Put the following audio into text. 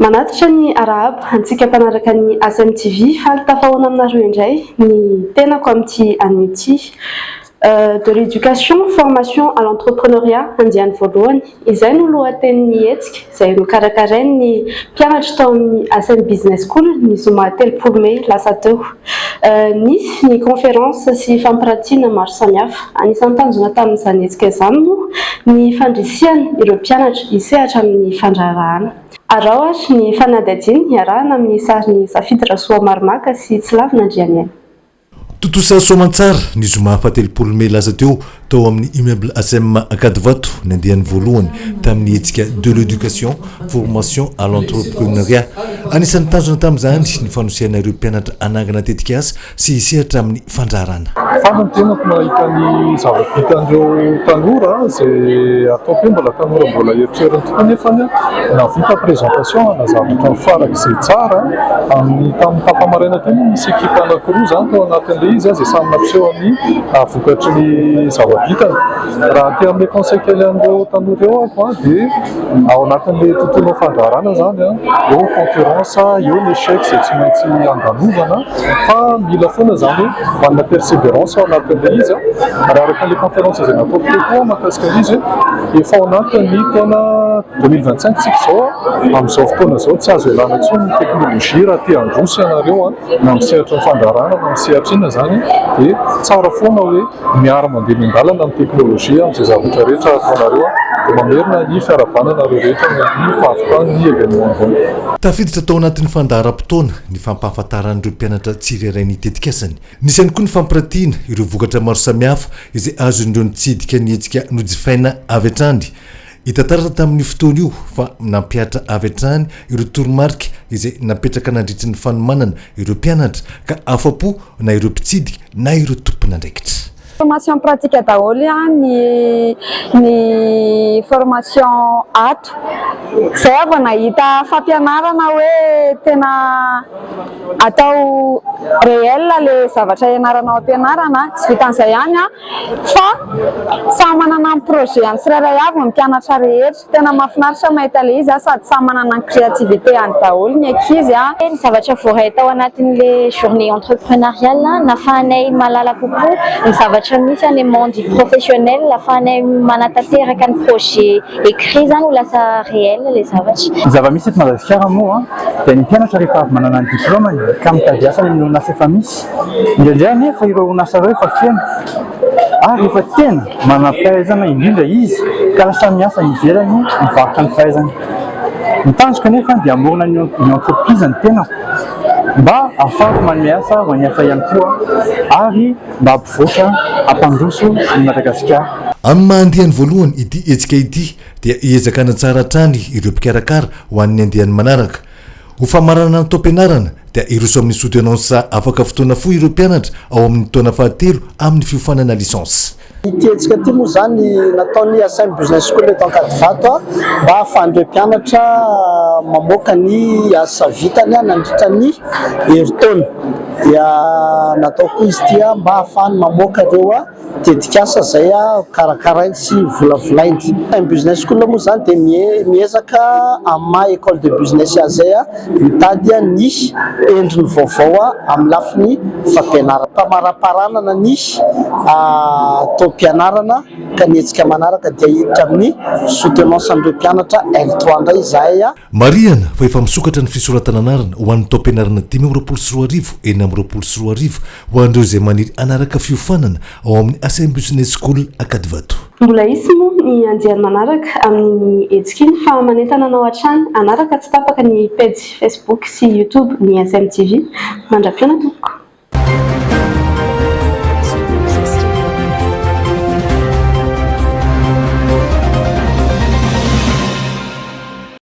Manatitra ny arahaba antsika mpanaraka ny ASM TV, faly tafahoana aminareo indray ny tenako amin'ity anio ity. de l'éducation, formation à l'entrepreneuriat andiany voalohany. Izay no lohatenin'ny hetsika izay nokarakarain'ny mpianatra tao amin'ny Asm Business School ny zoma telopolo mey lasa teo. Nisy ny conférence sy fampirantiana maro samihafa. Anisan'ny tanjona tamin'izany hetsika izany moa ny fandrisihana ireo mpianatra hisehatra amin'ny fandraharahana. Araho ary ny fanadihadiana iarahana amin'ny sarin'i Safidy Rasoamaromaka sy Tsilavina Andrianiaina. Tontosa soamantsara, ny zoma fahatelopolo mey lasa teo, tao amin'ny Immeuble ASEM Ankadivato, ny andiany voalohany tamin'ny hetsika De l'Education, Formation à l'Entrepreneuriat. Anisan'ny tanjona tamin'izany ny fanosehana ireo mpianatra hanangana tetikasa sy hisehatra amin'ny fandraharana. Faly ny tenako mahita ny zava-bitan'ireo tanora, izay ataoko hoe mbola tanora mbola erotrerony tokoa nefany nahavita présentation, nanazava hatramin'ny farak'izay tsara. Amin'ny tamin'ny tapa-maraina teo moa nisy ekipa anankiroa izany tao anatin'ilay izy izay samy nampiseho ny vokatry ny zava-bitany. Raha aty amin'ilay conseil kely an'ireo tanora eo aho dia ao anatin'ilay tontolon'ny fandraharahana izany eo ny concurrence, eo ny échec izay tsy maintsy andalovana fa mila foana izany hoe manana perseverance ao anatin'ilay izy. Raha araka ilay conférence izay nataoko teo koa mahakasika ilay izy hoe efa ao anatin'ny taona. Deux mille vingt cinq tsika izao an, amin'izao fotoana izao tsy azo ialana intsony ny teknolojia raha te handroso ianareo an, na amin'ny sehatry ny fandraharahana na amin'ny sehatra inona izany dia tsara foana hoe miara mandeha miandalana ny teknolojia amin'izay zavatra rehetra ataonareo an, dia mamerina ny fiarahabana anareo rehetra ny amin'ny fahavitan'ny événement ambony. Tafiditra tao anatin'ny fandaharam-potoana ny fampahafantaran'ireo mpianatra tsirairay ny tetikasany. Nisy ihany koa ny fampiratiana ireo vokatra maro samihafa izay azon'ireo nitsidika ny hetsika nojifaina avy hatrany. Hita taratra tamin'io fotoana io fa nampihatra avy hatrany ireo toromarika izay napetraka nandritry ny fanomanana ireo mpianatra ka afa-po na ireo mpitsidika na ireo tompon'andraikitra. Formation pratique daholo ihany ny formation ato. Izay aho vao nahita fampianarana hoe tena atao réel ilay zavatra ianaranao ampianarana. Tsy vitan'izay ihany an! Fa samy manana ny projet-ny tsirairay avy ny mpianatra rehetra. Tena mahafinaritra mahita ilay izy sady samy manana ny créativité-any daholo ny ankizy a. Ny zavatra voaray tao anatin'ilay journée entreprenariale, nahafahanay mahalala kokoa ny zavatra misy any amin'ny monde professionnel, ahafahanay manatanteraka ny projet écrit izany ho lasa réel ilay zavatra. Ny zava-misy eto Madagasikara moa dia ny mpianatra rehefa avy manana ny diplaomany ka mitady asa eny orinasa efa misy, Indraindray anefa ireo orinasa ireo efa feno ary efa tena manam-pahaizana indrindra izy ka lasa miasa any ivelany mivarotra ny fahaizany. Ny tanjoko anefa dia hamorona ny entreprise ny tenako mba hahafahako manome asa ho an'ny hafa ihany koa ary mba hampivoatra, hampandroso an'i Madagasikara. Amin'ny maha andiany voalohany ity hetsika ity dia hiezaka hanatsara hatrany ireo mpikarakara ho an'ny andiany manaraka. Ho famaranana ny taom-pianarana dia hiroso amin'ny soutenance afaka fotoana fohy ireo mpianatra ao amin'ny taona fahatelo amin'ny fiofanana licence. Ity hetsika ity moa izany nataon'ny Asm Business School eto Ankadivato mba hahafahan'ireo mpianatra mamoaka ny asa vitany nandritra ny herintaona. Dia natao koa izy ity mba hahafahany mamoaka ireo. Tetikasa izay karakarainy sy volavolainy. Ny business school moa izany dia miezaka amin'ny maha école de business azy izay mitady ny endriny vaovao amin'ny lafiny fampianarana. Famariparanana ny taom-pianarana ka ny hetsika manaraka dia hiditra amin'ny soutenance an'ireo mpianatra L3 indray izahay. Marihana fa efa misokatra ny fisoratana anarana ho an'ny taom-pianarana dimy amby roapolo sy roa arivo, enina amby roapolo sy roa arivo ho an'ireo izay maniry hanaraka fiofanana ao amin'ny Assain Business School Ankadivato. Mbola hisy moa ny andiany manaraka amin'iny hetsika iny fa manentana anao hatrany hanaraka tsy tapaka ny pejy Facebook sy YouTube ny SMTV. Mandra-pihaona tompoko.